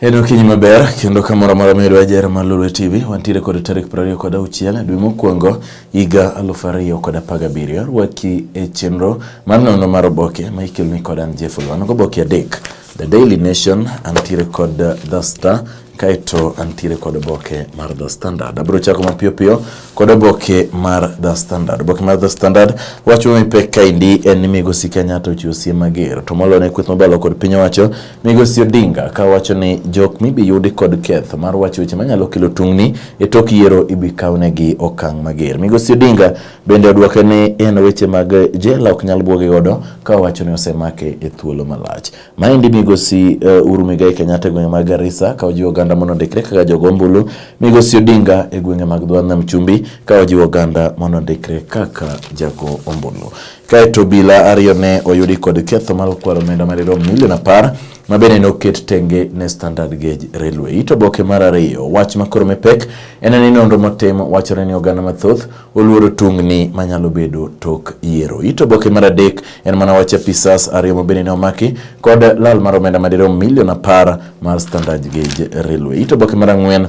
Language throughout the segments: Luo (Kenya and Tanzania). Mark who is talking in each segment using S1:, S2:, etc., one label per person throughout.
S1: En okinyi maber kendo kamoro amora ma idwa jere mar Lolwe TV wantiere kod tarik prariyo kod auchiel dwe mokwongo higa aluf ariyo kod apar gabiriyo rwaki e chenro mar nono mar oboke ma ikeloni kod an Jeff Olwano goboke adek The Daily Nation antiere kod The Star kaeto antiere kod oboke mar The Standard. Abiro chako mapiyo piyo kod oboke mar The Standard. Oboke mar The Standard wacho mipek kaendi en ni Migosi Kenyatta ochiwo siem mager to molone kweth mobalo kod piny owacho Migosi Odinga ka wacho ni jok mibi yudi kod ketho mar wacho weche manyalo kelo tungni e tok yiero ibi kawnegi okang' mager. Migosi Odinga bende odwoke ni en weche mag jela ok nyal bwoge godo ka owacho ni osemake e thuolo malach. Maendi migosi uh, Uhuru Muigai Kenyatta e gwenge mag Garissa ka ojiwo oganda mondo ondikre kaka jogo ombulu. Migosi Odinga e gwenge mag Dho Nam Chumbi ka ojiwo oganda mondo ondikre kaka jago ombulu. Kaeto obila ariyo ne oyudi kod ketho mar kwalo omenda madirom milion apar ma bende noket tenge ne Standard Gauge Railway. It oboke mar ariyo, wach makoro mepek en ni nonro motim wachore ni oganda mathoth oluoro tungni manyalo bedo tok yiero. It oboke mar adek en mana wach apisas ariyo ma bende ne omaki kod lal mar omenda madirom milion apar mar Standard Gauge Railway. It oboke mar ang'wen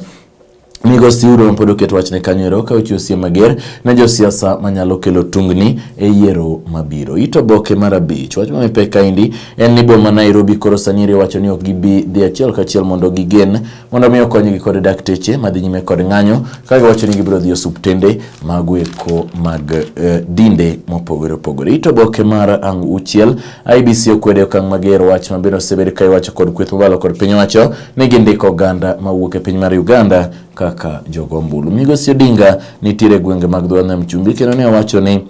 S1: Migosi Siuro ma pod oket wachne kanyo ero ka ochiwo siem mager ne josiasa manyalo kelo tungni e yiero mabiro. It oboke mar abich. Wach mami pek kaendi en ni boma Nairobi koro sani iri wacho ni ok gibi dhi achiel kachiel mondo gigen mondo mi okonygi kod dakteche madhi nyime kod ng'anyo ka giwacho ni gibiro dhi osuptende mago eko mag eh, dinde mopogore opogore. It oboke mar ang' uchiel. IBC okwedo okang' mager wach mabiro osebed ka iwacho kod kweth mobalo kod piny owacho ne gindiko oganda mawuok e piny mar Uganda kaka jogo ombulu. Migosi Odinga nitiere e gwenge mag dho nam chumbi kendo ne owacho ni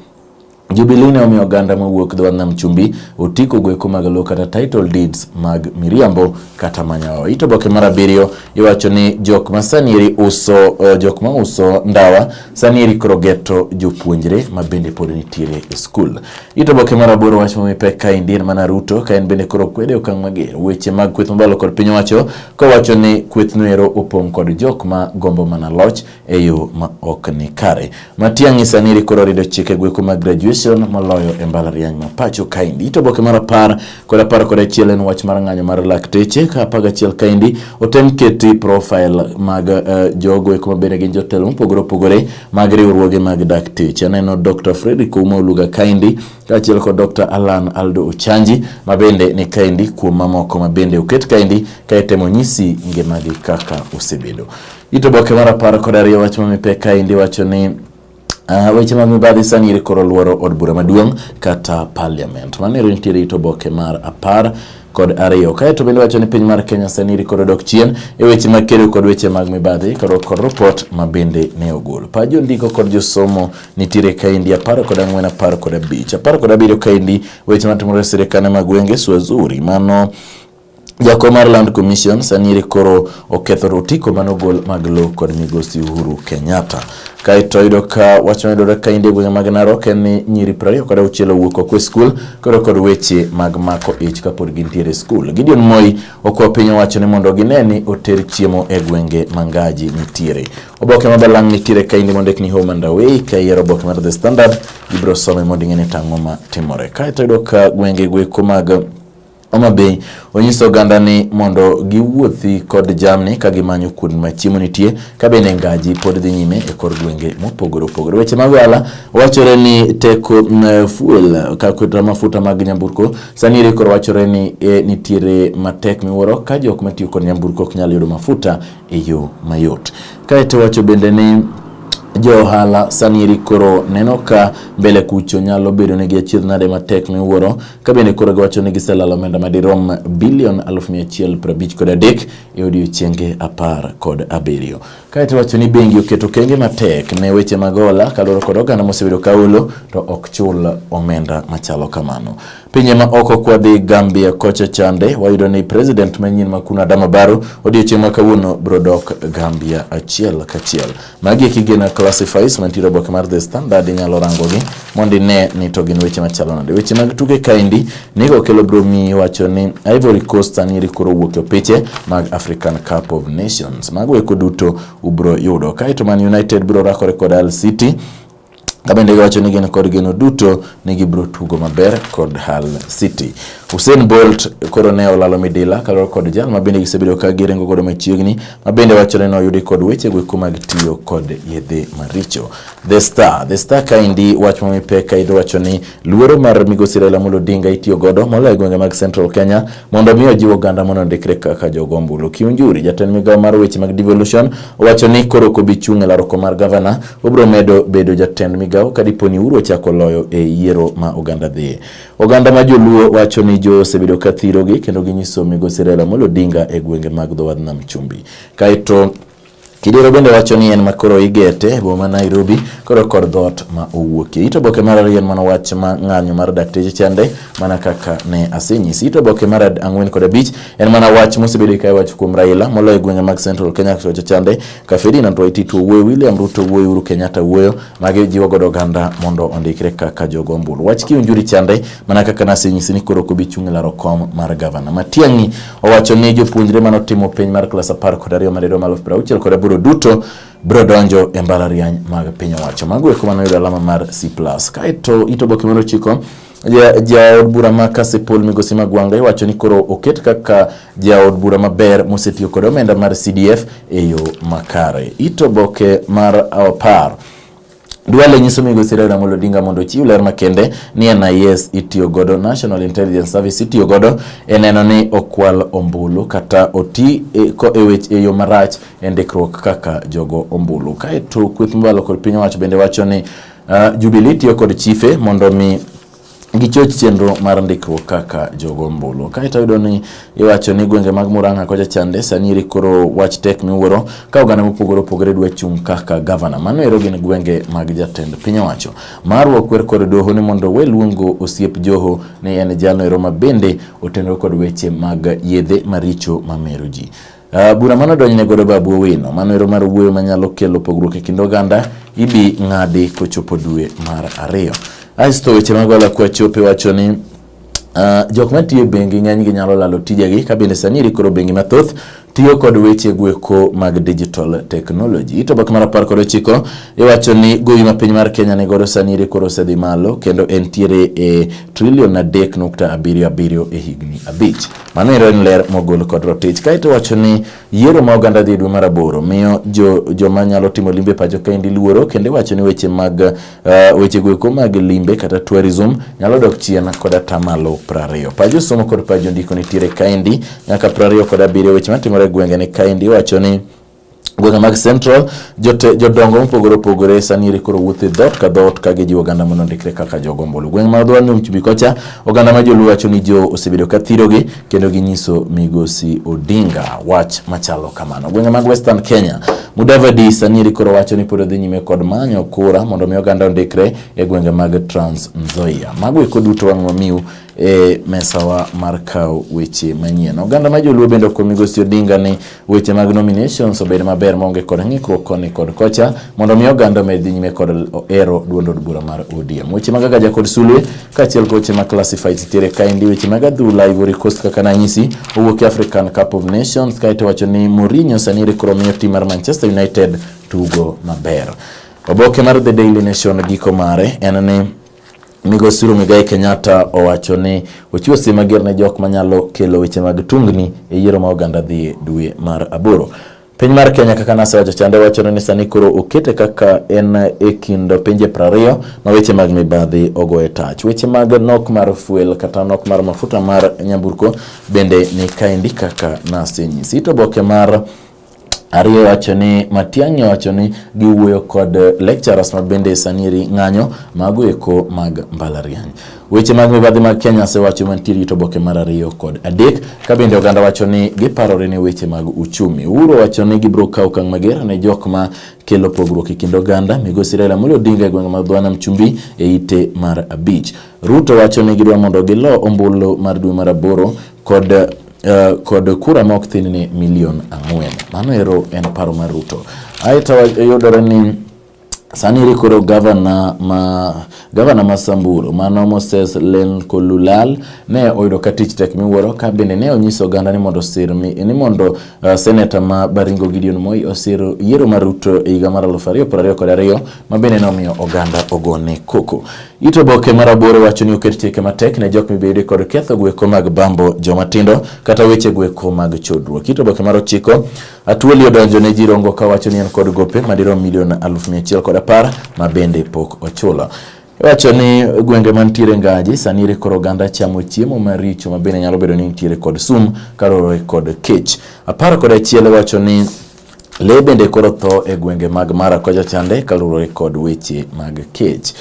S1: Jubilee ne omiyo oganda mawuok dho nam chumbi otiko gweko mag lowo kata title deeds mag miriambo kata manyawa. Ito boke mar abiriyo iwacho ni jok ma sanieri uso uh, jok ma uso ndawa sanieri krogeto jopuonjre ma bende pod nitiere e skul. It oboke mar aboro wach momi pek ka indien mana Ruto ka en bende koro kwede okang' mager weche mag kweth mabalo kod piny owacho kowacho ni kweth noero opong' kod jok ma gombo mana loch e yo ma ok ni kare. Matiang'i saniri koro rido chike gweko mag graduation moloyo e mbalariany ma pacho kaendi. It oboke mar apar Kod apar kod achiel en wach mar ng'anyo mar lakteche ka apar gachiel kaendi otem keti profile mag uh, jogo eko mabende gin jotelo mopogore opogore mag riwruoge mag dakteche. Aneno Dr. Fredrick Ouma Oluga kaendi kaachiel kod Dr. Alan Aldo Ochanji mabende ni kaendi kuom mamoko mabende oket kaendi kaetemo nyisi ngimagi kaka osebedo. Ito boke mar apar kod ariyo wach mamipek kaendi wacho ni Uh, weche mag mibadhi sani iri koro luoro od bura maduong' kata parliament. Mano ero nitiere ito boke mar apar kod ariyo. Kae to bende wacho ni piny mar Kenya sani iri koro dok chien e weche mag kedo kod weche mag mibadhi kod kod report ma bende ne ogol. Pa jo ndiko kod jo somo nitiere kaendi apar kod ang'wen apar kod abich. Apar kod abiriyo kaendi weche matimore e sirikane mag gwenge Swazuri. Mano Jakom mar Land Commission sani koro oketho rotiko manogol mag lowo kod migosi Uhuru Kenyatta. Kaeto yudo ka wach mayudore ka inde gwenge mag Narok en ni nyiri prariyo kod auchiel owuok oko e skul koro kod weche mag mako ich kapod gintiere e skul. Gideon Moi okwa piny owacho ni mondo gine ni oter chiemo e gwenge mangaji nitiere. Oboke ma balang' nitiere ka inde mondik ni Home and Away ka iyiero oboke mar The Standard ibiro some mondo ing'e ni tang'o ma timore. Kaeto yudo ka gwenge gweko mag Homa Bay onyiso oganda ni mondo giwuothi kod jamni ka gimanyo kuonde ma chiemo nitie ka bende ngaji pod dhi nyime e kor gwenge mopogore opogore. Weche mag ohala wachore ni teko mm, fuel kata mafuta mag nyamburko sani ere koro wachore ni e, nitiere matek miwuoro ka jok matiyo kod nyamburko ok nyal yudo mafuta e yo mayot. Kae to wacho bende ni jo ohala sani eri koro neno ka mbele kucho nyalo bedo negi achiedh nade matek miwuoro ka bende koro giwacho ni giselalo omenda madirom bilion aluf mia achiel prabich kod adek e odiechienge apar kod abiriyo. Kae to wacho ni bengi oketo kenge matek ne weche mag hola kaluwore kod oganda mosebedo ka holo to ok chul omenda machalo kamano. Pinye ma oko kwadhi Gambia kocha chande wayudo ni president manyien ma kuna Adama Barrow odiochieng' ma kawuono bro dok Gambia achiel kachiel. Magi kigena classifies mantiere oboke mar The Standard inyalo rangogi mondo ine ni to gin weche machalo nade. Weche mag tuke kaendi nigo kelo bro mi wacho ni Ivory Coast aniri koro wuok e piche mag African Cup of Nations. Mago eko duto ubro yudo. Kae to Man United bro rakore kod Al City Kabende giwacho ni gin kod geno duto ni gibiro tugo maber kod Hull City. Usain Bolt koro ne olalo midila kaluwore kod jal ma bende gisebedo ka giringo godo machiegni ma bende wachore ni oyudi kod weche gweko mag tiyo kod yedhe maricho. The Star, The Star kaendi wach ma mipek kaendi wacho ni luoro mar migosi Raila Amolo Odinga itiyo godo moloyo e gwenge mag Central Kenya mondo omi ojiw oganda mondo ondikre kaka jogo ombulu. Kiunjuri, jatend migawo mar weche mag devolution, owacho ni koro kobi chung' e laroko mar gavana, obiro medo bedo jatend migawo ka dipo ni Uhuru ochako loyo e yiero ma oganda dhi. Oganda ma joluo wacho ni jo osebedo ka thirogi kendo ginyiso migosi Raila Amolo Odinga e gwenge mag dho wadh nam Chumbi. Kaeto Kidero bende wacho ni en ma koro igete e boma Nairobi koro kod dhoot ma owuokie. Ito boke mar ariyo en mana wach ma ng'anyo mar dakteche chande mana kaka ne asenyisi. Ito boke mar ang'wen kod abich en mana wach mosebedo ka iwacho kuom Raila moloyo gwenge mag Central Kenya kocha chande ka Ferdinand Waititu wuoyo, William Ruto wuoyo, Uhuru Kenyatta wuoyo magi jiwo godo oganda mondo ondikre kaka jogo ombulu. Wach kiunjuri chande mana kaka nasenyisi ni koro ok obi chung' e laro kom mar gavana. Matiang'i Owacho ni jopuonjre mane otimo penj mar klas apar kod ariyo madirom aluf piero auchiel kod aboro duto biro donjo e mbalariany mag piny owacho. Mago eko mane oyudo alama mar C+. Kaeto it oboke mar ochiko jaod bura ma Kasipul Migosi Magwanga iwacho ni koro oket kaka jaod bura maber mosetiyo kod omenda mar CDF e yo makare. Ito boke mar apar Duale nyiso migosi Raila Amolo Odinga mondo ochiw ler makende ni NIS itiyo godo, National Intelligence Service itiyo godo e neno ni okwal ombulu kata oti e, e weche e yo marach e ndikruok kaka jogo ombulu. Kaeto kweth mobalo kod piny owacho bende wacho ni uh, Jubilee tiyo kod chife mondo mi gichoch chenro mar ndikruok kaka jogo ombulu. Kaeto yudo ni iwacho ni gwenge mag Murang'a kocha chande sani eri koro wach tek miwuoro ka oganda mopogore opogore dwa chung' kaka gavana. Mano ero gin gwenge mag jatend piny owacho. Marwa kwer kod doho ni mondo we luongo osiep Joho ni en jalo ero ma bende otenore kod weche mag yedhe maricho mamero ji. Uh, bura mano donjne godo babu Owino, mano ero mar wuoyo manyalo kelo pogruok e kind oganda ibi ng'adi kochopo dwe mar ariyo. Aisto weche mag Ola Kwachope wacho ni uh, jok matiyo e bengi ng'enygi nyalo lalo tijegi ka bende sani irikoro bengi mathoth tiyo kod weche gweko mag digital technology. Ito bak mar apar kod ochiko iwacho ni gowi ma piny mar Kenya ni godo sani iri koro osedhi malo kendo entiere e trilion adek nukta abiriyo abiriyo e higni abich. Mano ero en ler mogol kod rotich. Kaeto wacho ni yiero ma oganda dhi dwe mar aboro miyo jo, joma nyalo timo limbe pacho kaendi luoro kendo iwacho ni weche mag uh, weche goeko mag limbe kata tourism nyalo dok chien kod atamalo prariyo. Pajo somo kod pajo ndiko nitiere kaendi nyaka prariyo kod abiriyo weche matimore e gwenge ni kaendi iwacho ni gwenge mag Central jote jodongo mopogore opogore sani ere koro wuothe dhoot ka dhoot ka gijiwo oganda mondo ondikre kaka jogo ombulu. Gweng' ma Odhwal ni Uchubi kocha oganda ma joluo wacho ni jo osebedo ka thirogi kendo ginyiso migosi Odinga wach machalo kamano. Gwenge mag Western Kenya Mudavadi sani ere koro wacho ni pod odhi nyime kod manyo kura mondo mi oganda ondikre e gwenge mag Trans Nzoia. Mago eko duto wang' wamiu e mesawa mar kawo weche manyien. Oganda ma joluo bende okwa migosi Odinga ni Weche mag nominations obed maber maonge kod ng'ikruok koni kod kocha mondo mi oganda omed dhi nyime kod ero duond od bura mar ODM. Weche mag agaja kod sulwe kaachiel kod weche mag classified tiere kaendi weche mag adhula Ivory Coast kaka nanyisi owuok e African Cup of Nations kaeto wacho ni Mourinho sani rekoro miyo tim mar Manchester United tugo maber. Oboke mar The Daily Nation giko mare en ni Migosi Uhuru Muigai Kenyatta owacho ni ochiwo siem mager ne jok manyalo kelo weche mag tungni e yiero ma oganda dhi dwe mar aboro. Piny mar Kenya kaka nasewacho chande wacho ni sani koro okete kaka en e kind pinje prariyo ma weche mag mibadhi ogo e tach. Weche mag nok mar fuel kata nok mar mafuta mar nyamburko bende ni kaendi kaka nasenyisi. To boke mar Ariyo wacho ni Matiang'i wacho ni giwuoyo kod lecturers ma bende saniri ng'anyo mago eko mag mbalariany. Weche mag mibadhi mag Kenya asewacho mantiere gi toboke mar ariyo kod adek ka bende oganda wacho ni giparore ne weche mag uchumi. Uhuru wacho ni gibiro kawo okang' mager ne jok ma kelo pogruok e kind oganda. Migosi Raila Amolo Odinga e gweng' ma Dhwana Mchumbi e ite mar abich. Ruto wacho ni gidwa mondo gilo ombulu mar dwe mar aboro kod Uh, kod kura ma ok thin ni milion ang'wen. Mano ero en paro mar Ruto. Aeto yudore ni Sani iri koro gavana ma gavana ma Samburu mano Moses Lenkululal ne oyudo ka tich tek miwuoro ka bende ne onyiso oganda ni mondo sir mi ni mondo uh, seneta ma Baringo Gideon Moi osir yiero mar Ruto e higa mar 2022 ma bende nomiyo oganda ogone koko. It oboke mar aboro wacho ni oket chike matek ne jok mibede kod ketho gweko mag bambo joma tindo kata weche gweko mag chodruok. It oboke mar ochiko Atwoli odonjo ne Jirongo ka wacho ni en kod gope madirom milion aluf mia achiel kod apar ma bende pok ochulo. Wacho ni gwenge mantiere Ngaji sani ere koro oganda chamo chiemo maricho ma bende nyalo bedo ni nitiere kod sum karore kod kech. Apar kod achiel wacho ni Lee bende koro tho e gwenge mag Mara kocha chande kaluwore kod weche mag kech.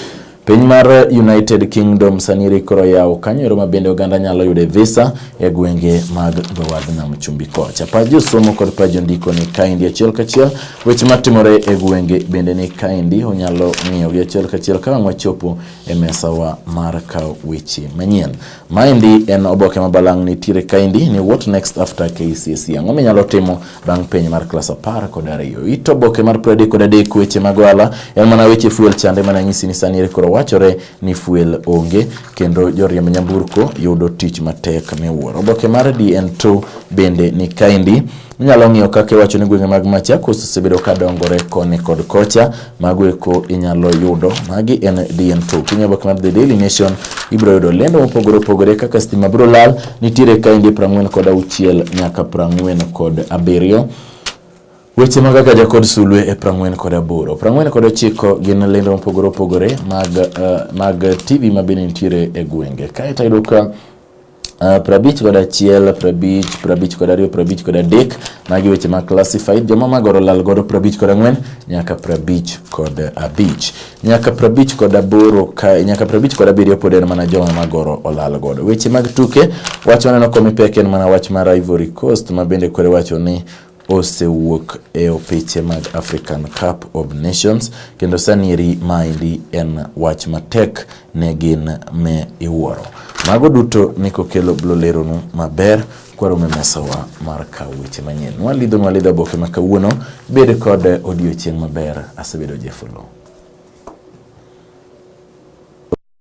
S1: Piny mar United Kingdom saniri koro yawo kanyo ero mabende oganda nyalo yude visa e gwenge mag dhowadh nam chumbi kocha. Pa josomo kod pa jondiko ni kaendi achiel kachiel. Weche matimore e gwenge bende ni kaendi onyalo ng'iyogi achiel kachiel ka wang' wachopo e mesawa mar kawo weche manyien. Maendi en oboke mabalang' nitiere kaendi ni what next after KCSE. Ang'o minyalo timo bang' penj mar klas apar kod ariyo. It oboke mar piero adek kod adek weche mag ohala en mana weche fuel chande mana nyisi ni sani ere koro wachore ni fuel onge kendo joriemb nyamburko yudo tich matek miwuoro. Oboke mar DN2 bende ni kaendi. Inyalo ng'iyo kaka iwacho ni gwenge mag Machakos osebedo ka dongore koni kod kocha. Mago eko inyalo yudo. Magi en DN2. Kinyo bok mar The Daily Nation, ibiro yudo lendo mopogore opogore kaka stima biro lal, nitiere kainde 40 kod auchiel nyaka 40 kod abiriyo. Weche mag Agaja kod Sulwe e prang'wen kod aboro. Prang'wen kod ochiko gin lendo mopogore opogore mag, uh, mag TV ma bende nitiere e gwenge. Kae to ayudo ka Uh, prabich kod achiel prabich prabich kod ariyo prabich kod adek magi weche ma classified joma magoro lal godo prabich kod ang'wen nyaka prabich kod abich nyaka prabich kod aboro ka nyaka prabich kod abiriyo pod en mana joma magoro olal godo weche mag tuke wach maneno komipek en mana wach mar Ivory Coast ma bende kwere wacho ni osewuok e opiche mag African Cup of Nations kendo sanieri maendi en wach matek ne gin me iwuoro. Mago duto ni kokelo blo leronu maber kwarome mesawa mar kawo weche manyien. Nwalidho nwalidho oboke ma kawuono, bed kod odiochieng' maber. Asebedo Jefolo.